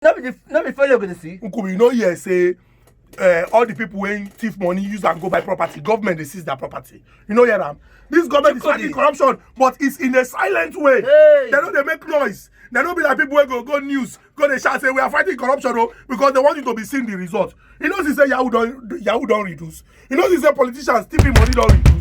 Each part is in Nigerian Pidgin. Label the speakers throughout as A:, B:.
A: no be the no be follow go dey see. nkubi you no hear say uh, all the people wey thief money use am go buy property government dey seize their property you no hear am this government is fighting corruption but it's in a silent way hey. they no dey make noise they no be like people wey go go news go dey shout say we are fighting corruption o oh, because they want you to be seeing the result you know see say yahoo don yahoo don reduce you know see say politicians thieving money don reduce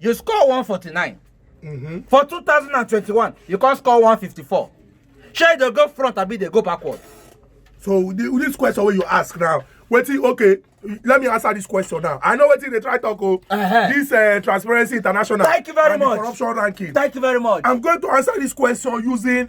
A: you score one forty nine mm-hmm. for two thousand and twenty one you come score one fifty four shey you dey go front abi dey go backward. so the, this question wey you ask now wetin okay let me answer this question now i know wetin dey try talk o oh. uh -huh. this uh, transparency international thank you very and much corruption ranking thank you very much i'm going to answer this question using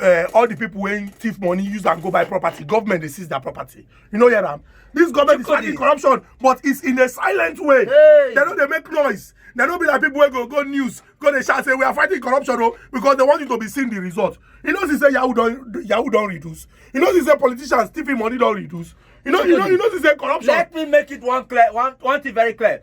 A: uh, all the people wey thief money use am go buy property government dey seize their property you no hear am this government is fighting corruption but it's in a silent way hey. they no dey make noise they no be like people wey go go news go dey shout say we are fighting corruption o oh, because they want you to be seeing the result you know see say yahoo don yahoo don reduce you know see say politicians thiefing money don reduce you know you know you know see say corruption. let me make it one clear one one thing very clear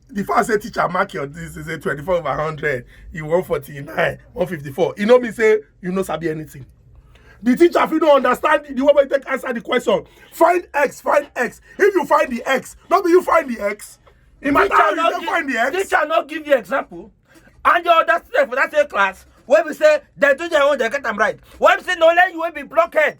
A: before i say teacher mark your this is a 24 over 100 you 149 154 e no mean say you no sabi anything the teacher fit no understand the way wey take answer the question find x find x if you find the x no be you find the x e matter how you take find the x. teacher no give you example and your other student for that same class wey be say dem do their own dem get am right wey be say na only you wey be blockhead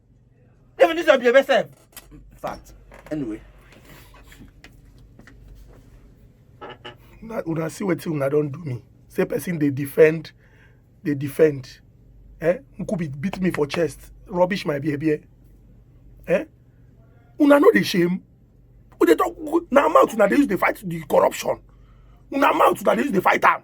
A: Even this will be a best In fact, anyway. Una, una see wetin una don do me. Say person dey defend, dey defend. Eh? Nkubi beat me for chest, rubbish my behavior. Eh? Una no dey shame. Una dey talk, na mouth una dey use dey fight the corruption. Una mouth una dey use dey fight am.